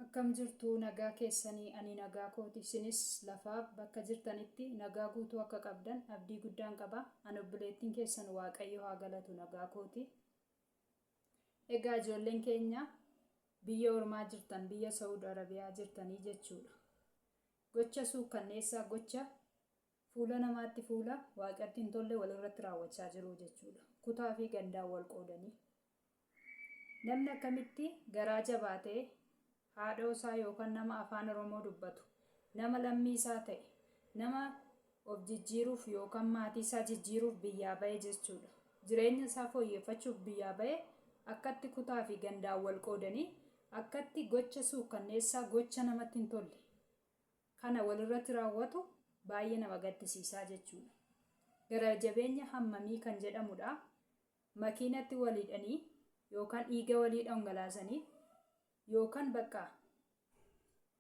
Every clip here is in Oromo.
Akkam jirtu nagaa keessanii ani nagaa kooti isinis lafaa bakka jirtanitti nagaa guutuu akka qabdan abdii guddaan qaba an obboleettiin keessan waaqayyo haa galatu nagaa kooti egaa ijoolleen keenya biyya ormaa jirtan biyya sa'ud arabiyaa jirtanii jechuudha gocha suukkanneessaa gocha Fuula namaatti fuula waaqatti hin tolle walirratti raawwachaa jiru jechuudha. Kutaa fi gandaan wal qoodanii. Namni akkamitti garaa jabaatee haadhoo isaa yookaan nama afaan Oromoo dubbatu, nama lammii isaa ta'e, nama of jijjiiruuf yookaan maatii isaa jijjiiruuf biyyaa bahe jechuudha. Jireenya isaa fooyyeffachuuf biyyaa bahe akkatti kutaa fi gandaan wal qoodanii akkatti gocha suukkanneessaa gocha namatti hin tolle. kana walirratti raawwatu baay'ee nama gaddisiisaa jechuudha. Gara jabeenya hammamii kan jedhamudha. Makiinatti waliidhanii yookaan dhiiga walii dhangalaasanii yookaan bakka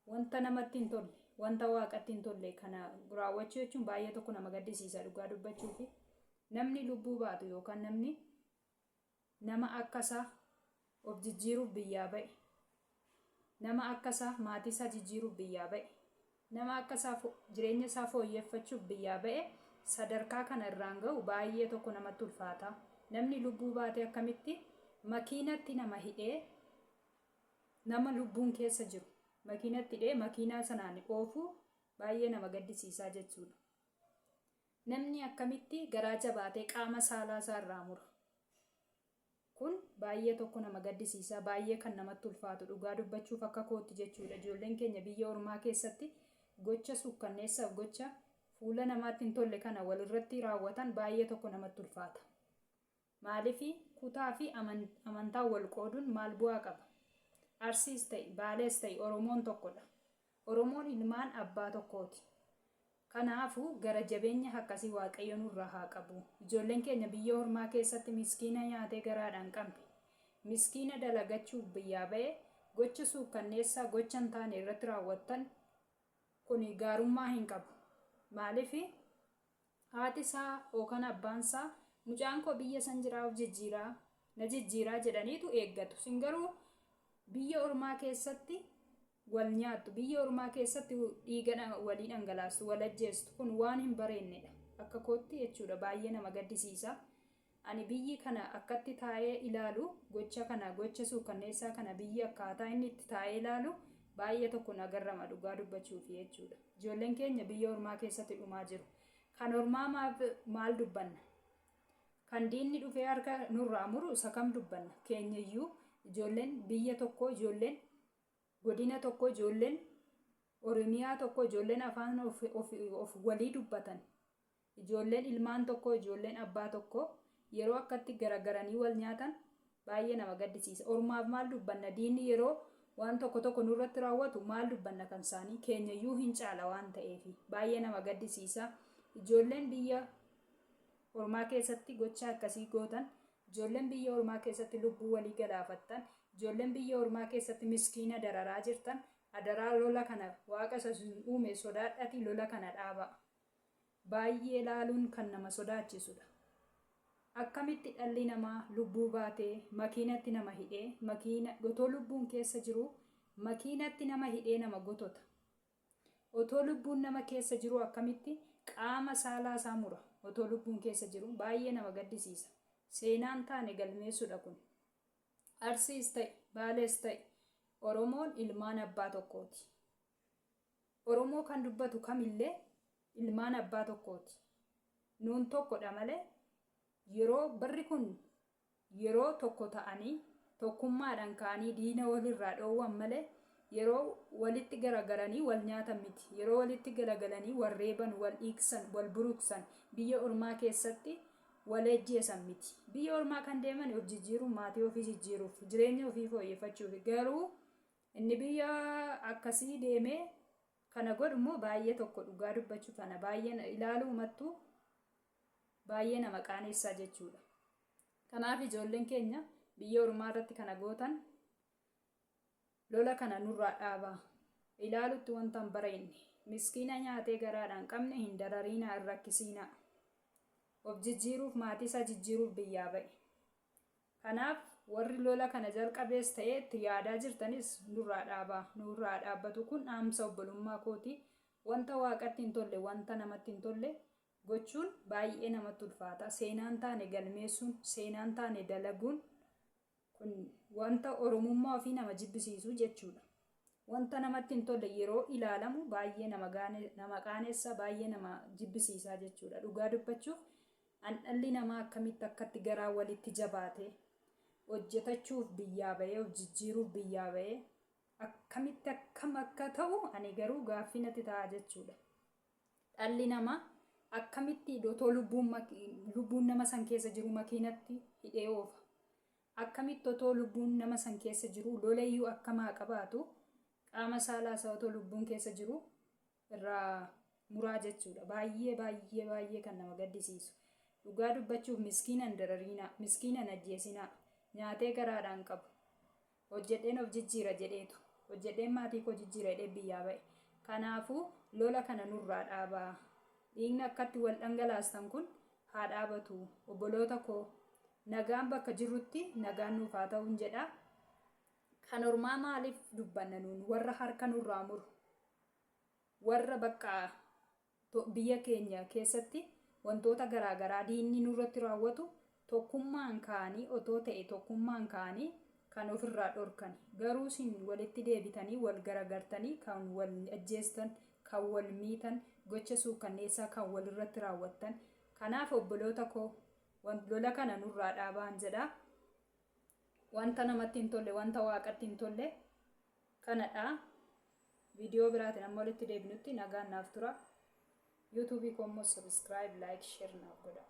wanta namatti hin tolle wanta waaqatti hin tolle kana raawwachuu jechuun baay'ee tokko nama gaddisiisa dhugaa dubbachuufi namni lubbuu baatu yookaan namni Nama akka isaa of jijjiiruuf biyyaa ba'e. Nama akka isaa maatii isaa jijjiiruuf biyyaa ba'e. Nama akka isaa jireenya isaa fooyyeffachuuf biyyaa ba'e sadarkaa kana irraan ga'u baay'ee tokko namatti ulfaata. Namni lubbuu baate akkamitti makiinatti nama hidhee nama lubbuun keessa jiru makiinatti hidhee makiinaa sanaan oofuu baay'ee nama gaddisiisaa jechuudha. Namni akkamitti garaa jabaatee qaama saalaa isaa irraa mura? Kun baay'ee tokko nama gaddisiisa, baay'ee kan namatti ulfaatu dhugaa dubbachuuf akka kootti jechuudha. Ijoolleen keenya biyya ormaa keessatti gocha suukkanneessaaf gocha fuula namaatti hin tolle kana wal irratti raawwatan baay'ee tokko namatti ulfaata. Maaliifi kutaa fi amantaan wal qooduun maal bu'aa qaba? Arsiis ta'i, Baalees ta'i Oromoon tokko dha. Oromoon ilmaan abbaa tokkoo ti. Kanaafu, gara jabeenya akkasii Waaqayyo nurraa haa qabu. Ijoolleen keenya biyya ormaa keessatti miskiina nyaatee garaadhaan qam'e, miskiina dalagachuuf biyyaa ba'e gocha suukkanneessaa gocha hin taane irratti raawwattan kuni gaarummaa hin qabu. Maaliifi? Haati isaa ookan abbaan isaa mucaan koo biyya san jiraa of jijjiiraa, na jijjiiraa jedhaniitu eeggatu. Isin garuu biyya ormaa keessatti wal nyaattu, biyya ormaa keessatti dhiiga walii dhangalaastu, wal ajjeestu. Kun waan hin bareennedha. Akka kootti jechuudha. Baay'ee nama gaddisiisa. Ani biyyi kana akkatti taa'ee ilaalu gocha kana gocha suukkanneessaa kana biyyi akkaataa inni itti taa'ee ilaalu baay'ee tokko na garrama dhugaa dubbachuufi jechuudha. Ijoolleen keenya biyya ormaa keessatti dhumaa jiru. Kan ormaa maaf maal dubbanna? Kan diinni dhufee harka nurraa muru isa kam dubbanna? Keenyayyuu ijoolleen biyya tokkoo ijoolleen godina tokkoo ijoolleen Oromiyaa tokkoo ijoolleen afaan of, of, of walii dubbatan Ijoolleen ilmaan tokkoo, ijoolleen abbaa tokkoo yeroo akkatti garagaranii wal nyaatan baay'ee nama gaddisiisa. Ormaaf maal dubbanna? Diinni yeroo waan tokko tokko nurratti raawwatu maal dubbanna kan isaanii? Keenyayyuu hin caala waan ta'eef. Baay'ee nama gaddisiisa. Ijoolleen biyya ormaa keessatti gochaa akkasii gootan, ijoolleen biyya ormaa keessatti lubbuu walii galaafattan, ijoolleen biyya ormaa keessatti miskiina dararaa jirtan adaraa lola kana waaqa isa isin uume sodaadhaatii lola kana dhaabaa. Baay'ee ilaaluun kan nama sodaachisudha. Akkamitti dhalli namaa lubbuu baatee makiinatti nama hidhee makiina otoo lubbuun keessa jiruu makiinatti nama hidhee nama gotota? Otoo lubbuun nama keessa jiruu akkamitti qaama saalaa isaa mura otoo lubbuun keessa jiruu? Baay'ee nama gaddisiisa. Seenaan taane galmeessudha kun. Arsiis ta'i, Baalees ta'i Oromoon ilmaan abbaa tokkooti. Oromoo kan dubbatu kamillee ilmaan abbaa tokkooti. Nuun tokkodha malee yeroo barri kun yeroo tokko ta'anii tokkummaadhaan ka'anii diina walirraa dhoowwan malee yeroo walitti garagalanii wal nyaatan miti. Yeroo walitti galagalanii wal reeban, wal dhiigsan, wal buruqsan, biyya ormaa keessatti wal ajjeesan miti. Biyya ormaa kan deeman of jijjiiruuf, maatii ofii jijjiiruuf, jireenya ofii fooyyeffachuufi. Garuu. Inni biyya akkasii deemee kana godhu immoo baay'ee tokko dhugaa dubbachuuf ana baay'ee na- ilaaluumattuu baay'ee nama qaaneessaa jechuudha. Kanaaf ijoolleen keenya biyya ormaa irratti kana gootan lola kana nurraa dhaabaa. Ilaalutti wanta hin bareenye. Miskiina nyaatee garaadhaan qabne hin darariinaa hin rakkisiinaa. Of jijjiiruuf maatii isaa jijjiiruuf biyyaa ba'e. Kanaaf warri lola kana jalqabees ta'ee itti yaadaa jirtanis nurraa dhaabaa, nu irraa haa dhaabbatu kun dhaamsa obbolummaa kooti, wanta Waaqatti hin tolle, wanta namatti hin tolle gochuun baay'ee namatti ulfaata. Seenaa hin taane galmeessuun, seenaa hin taane dalaguun kun wanta Oromummaa ofii nama jibbisiisu jechuudha. Wanta namatti hin tolle yeroo ilaalamu baay'ee nama qaanessa, baay'ee nama jibbisiisa jechuudha. Dhugaa dubbachuuf An dhalli namaa akkamitti akkatti garaa walitti jabaatee, hojjetachuuf biyyaa bahee, of jijjiiruuf biyyaa bahee, akkamitti akkam akka ta'u ani garuu gaaffii natti ta'a jechuudha. Dhalli namaa akkamitti otoo lubbuun maki- lubbuun nama san keessa jiru makiinatti hidhee oofa? Akkamitti otoo lubbuun nama san keessa jiru lolayyuu akkamaa qabaatu qaama saalaa isaa otoo lubbuun keessa jiru irraa muraa jechuudha baay'ee baay'ee baay'ee kan nama gaddisiisu dhugaa dubbachuuf miskiina hin darariinaa miskiina hin ajjeesinaa nyaatee garaadhaan qabu hojjedheen of jijjiira jedheetu hojjedheen maatii koo jijjiira jedhee biyyaa ba'e kanaafuu lola kana nurraa dhaabaa dhiigni akkatti wal dhangalaastan kun haa dhaabatu obboloota koo nagaan bakka jirrutti nagaan nuuf haa ta'uun jedha kan ormaa maaliif dubbanna nuun warra harka nurraa muru Warra bakka biyya keenya keessatti wantoota garaa garaa diinni nurratti raawwatu tokkummaan ka'anii otoo ta'e tokkummaan ka'anii kan of irraa dhorkani. Garuu isin walitti deebitanii wal garagartanii kan wal ajjeestan, kan wal miitan, gocha suukkanneessaa kan wal irratti raawwattan. Kanaaf obboloota koo lola kana nurraa dhaabaan jedha. Wanta namatti hin tolle, wanta Waaqatti hin tolle kanadha. Video biraatiin amma walitti deebinutti nagaan naaf tura. YouTube koo immoo subscribe, like, share naaf godhaa.